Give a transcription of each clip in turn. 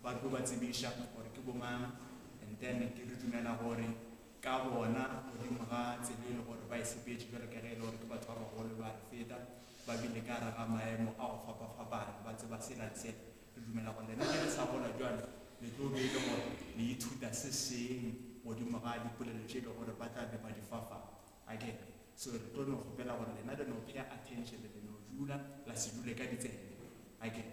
Ba tlo ba tsebiša gore ke bomang, and then ke re dumela gore ka bona godimo ga tsela e le gore ba e sepetše bjalo ka ge e le gore ke batho ba bagolo ba re feta, ba bile ka gare ga maemo a go fapafapana, ba tseba sela le sela. Re dumela gore lena ge le sa gola bjalo le tlo be e le gore le ithuta se seng godimo ga dipolelo tše e le gore ba tla be ba di fa fa. A ke re? So re tlo no kgopela gore lena le no pay attention, le no dula la se dule ka ditsebe. A ke re?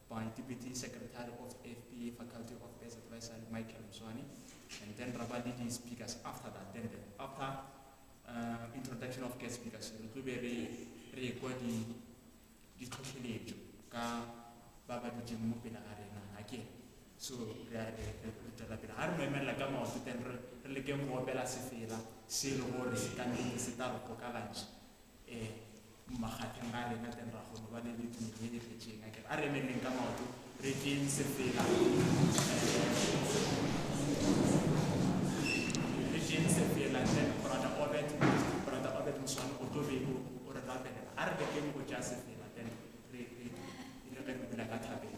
by Deputy Secretary of FPA Faculty of Affairs Advisory Michael Mswane and then ra ba le di speakers after that then the, after uh, introduction of guest speakers re tlo be re re ekwa di ditlhotlheletso ka ba ba ditseng mo pele ga rena ga ke so re a re tswela pele ga re mo emelela ka maoto then re lekeng go opela sefela se e le gore se ka nneng se tla re pokalantšha um eh, Makgatheng ga rena then ra kgono ba le le tumelo e fetšeng a kere a re emeleng ka maoto re teng sepela re teng sepela then brother obet brother obet moswane o tlo be o re rapelela a re lekeng go tša sepela then re re re re bula ka thabeng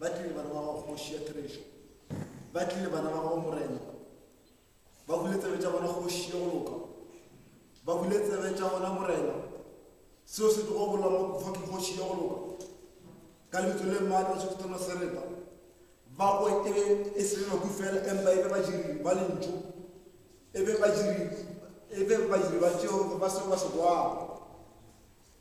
Ba tlile bana ba gago kgoši ya Therešo, ba tlile bana ba gago morena, ba bule tsebe tša bona kgoši ye go loka, ba bule tsebe tša bona morena, seo se tlogo bolela mo kufa ke kgoši ye go loka, ka lebitso le maatla se fetana sereta, ba kwe e be e se le maku fela empa e be badiri ba lentšu, e be badiri e be badiri ba tšeo ba seo ba se kwago.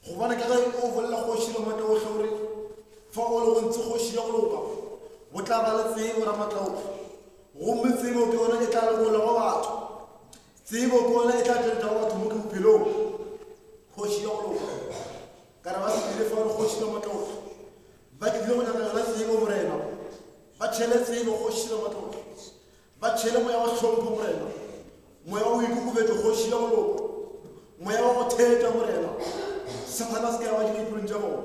Gobane ka ge o bolela kgoši Ramatlaohle o re, Fa o le go ntse kgoši ya go loka, go tla ba le tsebo, Ramatlaohle, gomme tsebo ke yona e tla lokolla go batho. Tsebo ke yona e tla tšweletša go batho moke bophelong. Kgoši ya go loka, ka re ba se dire fa o le kgoši Ramatlaohle. Ba tlile go nyaka yona tsebo, Morena. Ba tšhele tsebo, kgoši Ramatlaohle. Ba tšhele moya wa hlompho, Morena, moya wa boikokobetšo, Kgoši ya moloko, moya wa go theta, Morena. Sathana a se ke a ba dira dipelong tša bona.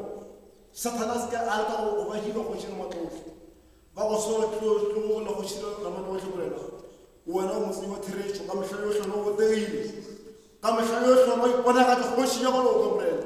Sathana a se ke a leka go go ba dira, Kgoši ya matlotlo. Ba go swara tlogolla, Kgoši ya matlotlo, Morena. Wena o motsenyi wa theretšo, ka mehla yohle wena o botegile. Ka mehla yohle wena o iponagatša, Kgoši ya maloko, Morena.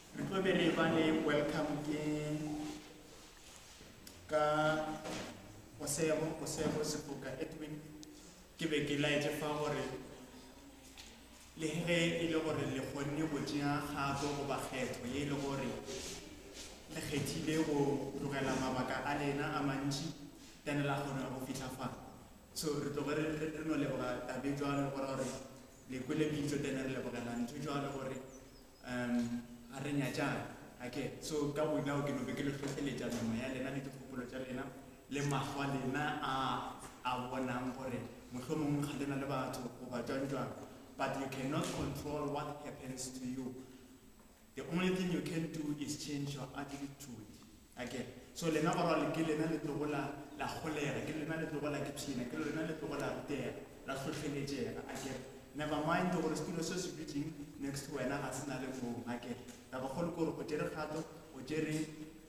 Re tlo be re ba le welcome ke ka Osebo, Osebo Sepoka Edwin. Ke be ke laetse fa gore le ge e le gore le kgonne go tšea kgato goba kgetho ye e le gore le kgethile go tlogela mabaka a lena a mantši tene la kgona go fitlha fa so re tloge re re- re no leboga tabe jwalo gore gore le kwele bitso tene re lebogela ntho jwalo gore Um, a re nyatšang, a ke. So, ka bonao ke no be ke le hlohleletša nama ya lena le dikgopolo tša lena, le mahlo a lena a a bonang gore mohlomongwe ga lena le batho goba jwang-jwang. But you cannot control what happens to you. The only thing you can do is change your attitude. Okay. So lena barwali ke lena le tlogo la la golega, ke lena le tlogo la kipshina, ke lena le tlogo la rutega, la hlohleletšega. Okay. Never mind gore setulo se se dutšeng next to wena ga se na le moo. Okay. Taba kgolo ke gore o tšere kgato, o tšere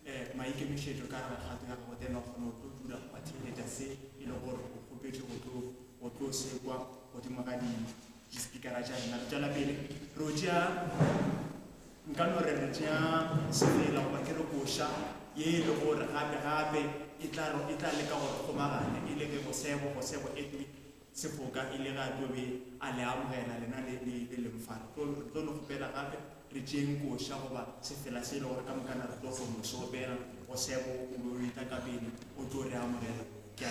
eh, maikemišetšo ka gare kgato ya gago, then wa kgona go tlo dula go ba theeletša se e le gore o kgopetše go tlo go tlo sekwa godimo ga dimo. Dispikara tša rena re tšwela pele re o tšea nka no re re tšea semela goba ke re koša ye e le gore gape gape e tla ro e tla leka gore kgomagane e le ge go sebo go sebo etni sefoka e le ga tobe a le amogela lena le le le leng fa re tlo re tlo no gopela gape re tšeng koša goba sefela se e le gore ka mokana re tlo go mo se gopela go sebo o be o e tla ka pele o tlo re amogela ke a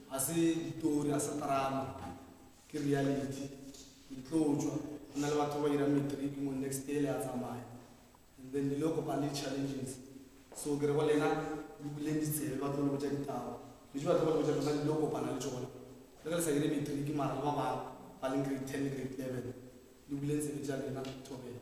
Ga se ditori, ga se drama, ke reality. Ke tlo tšwa, go na le batho ba ba dirang matric mo next year, le a tsamaya. And then le ile go kopana le di-challenges. So ke re go lena, le buleng ditsebe, ba tlo le botša ditaba. Dilo tše ba tlo go le botša tšona, le ile go kopana le tšona. Le ge le sa dire matric, mara le ba bangwe ba leng grade ten le grade eleven, le buleng tsebe tša lena, thobela.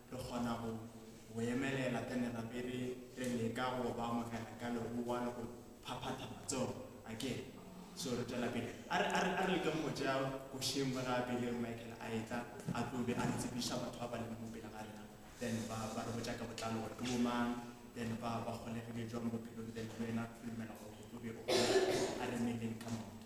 Re kgona go go emelela ka lerape re re leka go ba amogela ka legowa le go phaphatha matsogo. Akere? So re tšwela pele. A re, a re, a re lekeng go tšea košeng mo gape le Michael a etla, a tlo be a re tsebiša batho ba ba lego mo pele ga rena, then ba, ba re botša ka botlalo gore ke bomang, then ba, ba golegile jwang bophelong, then le wena o dumela gore o tlo be o kgona a re meleng ka maoto.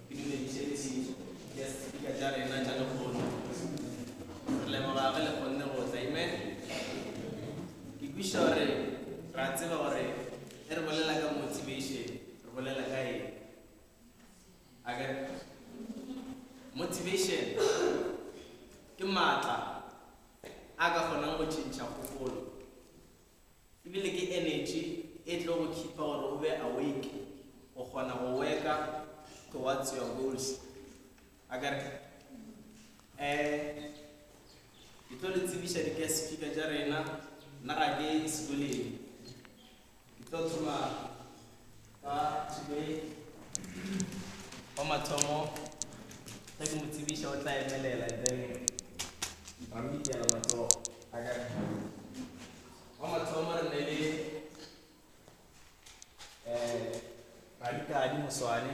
Ke dumediše ditšhišo ya Sepika tša rena tša lekgotla. Re leboga ge le kgonne go tla. Amen. Ke kwešiša gore re a tseba gore ge re bolela ka motivation, re bolela ka eng. A ke re? Motivation ke maatla a ka kgonang go tšhentšha kgopolo. E bile ke energy e tlo go khipa gore o be awake, o kgona go worka towards your goals. Akere? Eh, ke tlo le tsebiša di-guest speaker tša rena, nna ga ke sekoleng. Ke tlo thoma Ka today wa mathomo ge ke mo tsebiša o tla emelela and then ba mo ikela matsogo a ka wa mathomo re ne le um radikadi moswane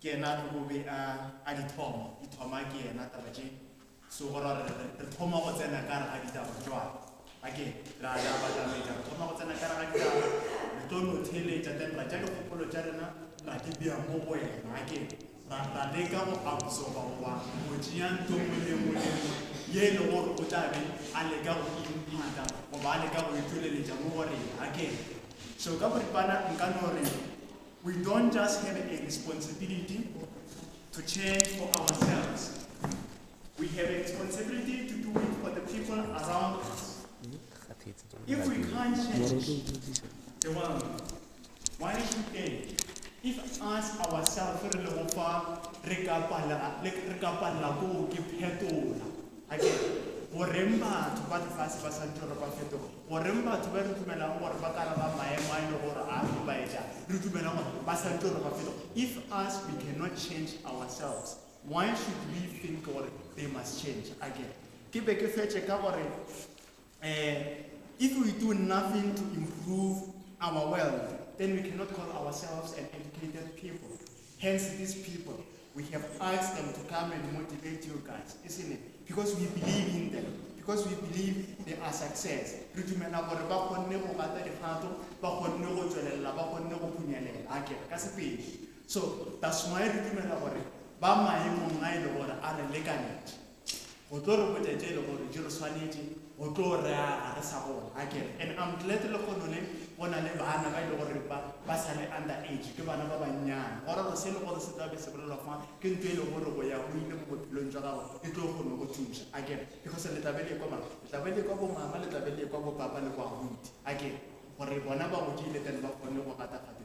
Ke yena a tlogo be a, a di thoma, di thoma ke yena taba tše. So go ra gore re, re thoma go tsena ka gare ga ditaba bjwale. Ake, ra, ra batametša, re thoma go tsena ka gare ga ditaba, re tlo no theeletša, then ra tša dikgopolo tša rena, ra di bea mo go wena. Ake, ra, ra leka go absorba goba go tšea ntho nngwe le nngwe le nngwe ye e le gore o tla be a leka go e imphanta goba a leka go e tšweleletša mo go rena. Ake, so ka boripana nka no re, We don't just have a responsibility to change for ourselves. We have a responsibility to do it for the people around us. If we can't change the world, why should they? If us ourselves re le go fa re ka palla le re ka palla go ke phetola. Again, go reng batho ba lefase ba sa ntoro ba fetola. Goreng batho ba re dumelago gore ba ka re ba maemo a e lego gore a hlobaetša, re dumela gore ba sa tlo re ba felo? If us we cannot change ourselves, why should we think gore they must change? A ke ke be ke fetše ka gore, um if we do nothing to improve our world, then we cannot call ourselves an educated people. Hence these people we have asked them to come and motivate you guys, isn't it? Because we believe in them. Because we believe they are success. Re dumela gore ba kgonne go gata dikgato, ba kgonne go tswelela, ba kgonne go phunyelela. A ke ka sepedi. So that's why re dumela gore ba maemong a ile gore a re lekanetše. Go tlo re botša tše le gore di re swanetše go tlo rea ga re sa gola, a kere? And I'm glad lehono le go na le bana ba e le gore ba ba sa le under age, ke bana ba bannyane. Go ra gore se e le gore se tla be se bolelwa fa ke ntho e le gore go ya go ile mo bophelong jwa gago e tlo kgono go thuša, a kere? Because le tla be le ekwa mang? Le tla be le ekwa bomama, le tla be le ekwa bopapa le bo abuti, a kere? Gore bona ba godile then ba kgone go gata gape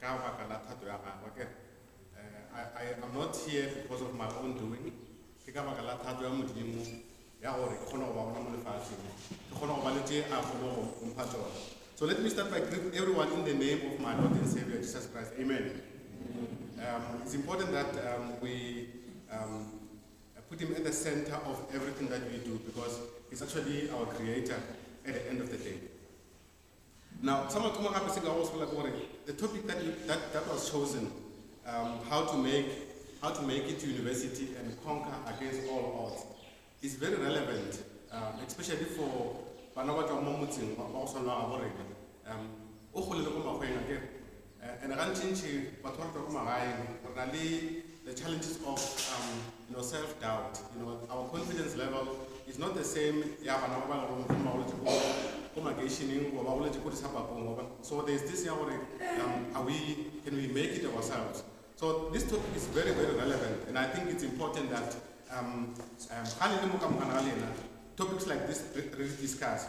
ka baka la thato ya gagwe ke I, I am not here because of my own doing ke ka baka la thato ya modimo ya gore ke kgone go ba gona mo lefatsheng ke kgone go ba le tše a kgone go mpha tsona so let me start by greet everyone in the name of my lord and savior jesus christ amen um, it's important that um, we um, put him at the center of everything that we do because he's actually our creator at the end of the day Now, sa mathomo gape se ka go sela ke gore the topic that, you, that, that was chosen um, how to make how to make it to university and conquer against all odds is very relevant um, especially for bana ba tswang mo motseng wa go tshwana ga borena um o golele ko makgweng a kere And gantšintši batho ba re tlogo magaeng re na le the challenges of um, you know, self doubt you know, our confidence level is not the same ya bana ba ba lego mohlomong ba goletše ko ko makeišeneng goba ba goletše ko disabakong goba so there is this ya gore um, are we can we make it ourselves so this topic is very very relevant and i think it's important that um, um, ga le le mo ka mogana ga lena topics like this re, re discuss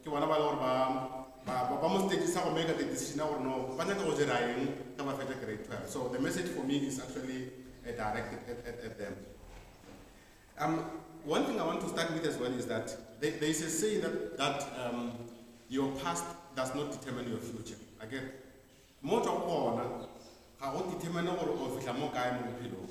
Ke bona ba le gore ba ba ba ba mo stage-sa go make a the decision ya gore no ba nyaka go dira eng ge ba fetša grade 12 so the message for me is actually uh, directed at, at, at them um, one thing i want to start with as well is that there, there is a saying that, that um, your past does not determine your future again mo tswa go bona ga go determine gore o fihla mo kae mo bophelong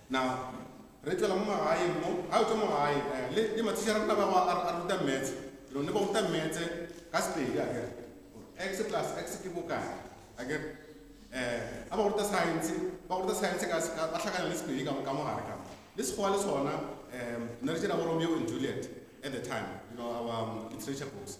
Na re tšwela mo magaeng mo? Ga re tšwa mo gae, eh, le, le mathiša a rena ba go a, a ruta metse. Lo ne ba ruta metse ka Sepedi, a kere, gore X plus X ke bokae, a kere. Eh, a ba go ruta saense, ba go ruta saense ka, ka, ba hlakana le Sepedi ka, ka mo gare ka. Le Sekgowa le sona, eh, ne re tšea bo Romeo and Juliet at the time, you know, our um, literature books.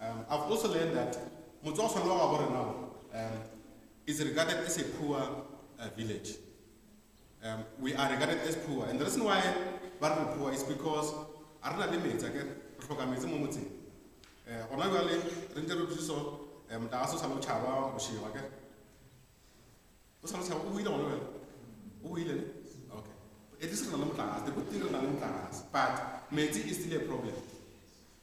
Um, I've also learned that motswakgolo wa gabo rena um, is regarded as a poor uh, village. Um, we are regarded as poor. And the reason why we are poor is because a rena le metsi ake re tlhoka metsi mo motseng um gona jale re ntse re thuso um tla se o sale o tšhaba bošego ake o sale o tšhaba o buile gona jale o buile ne okay at least re na le motlakase the good thing re na le motlakase but metsi is still a problem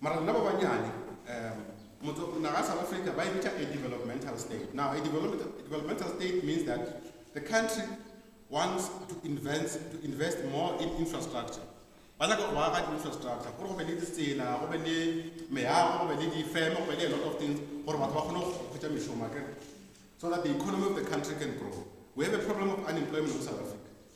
Mara lena ba banyane, um, motho, naga ya South Africa ba e bitša a developmental state. Now, a developmental, a developmental state means that the country wants to invest, to invest more in infrastructure. Ba nyaka go aga di-infrastructure, gore go be le ditsela, go be le meago, go be le difeme, go be le a lot of things, gore batho ba kgone go kgwetsa mešomo, okay? So that the economy of the country can grow. We have a problem of unemployment in South Africa.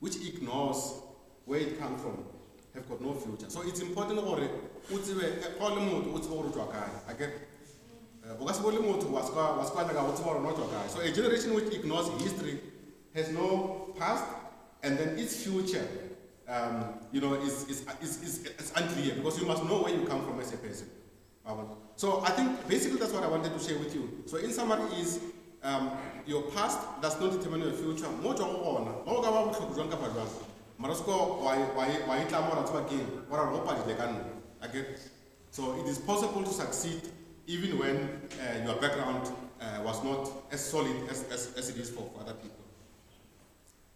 which ignores where it come from have got no future so it's important gore o tsebe eh, ga o le motho o tsebe gore o tswa kae a ke eh, o ka se bole motho wa sekwa wa sekwa nyaka o tseba gore o tswa kae so a generation which ignores history has no past and then its future um, you know is, is, is, is, is unclear because you must know where you come from as a person Wa bona? So I think basically that's what I wanted to share with you. So in summary is um, your past does not determine your future. Mo tswa go gona, ga o ka ba botlhoko jwang kapa jwang. Mara se ko wa e- wa e- wa e tla mo ra tseba keng, wa ra go padile ka nna. I get it. So it is possible to succeed even when uh, your background uh, was not as solid as, as, as it is for, for other people.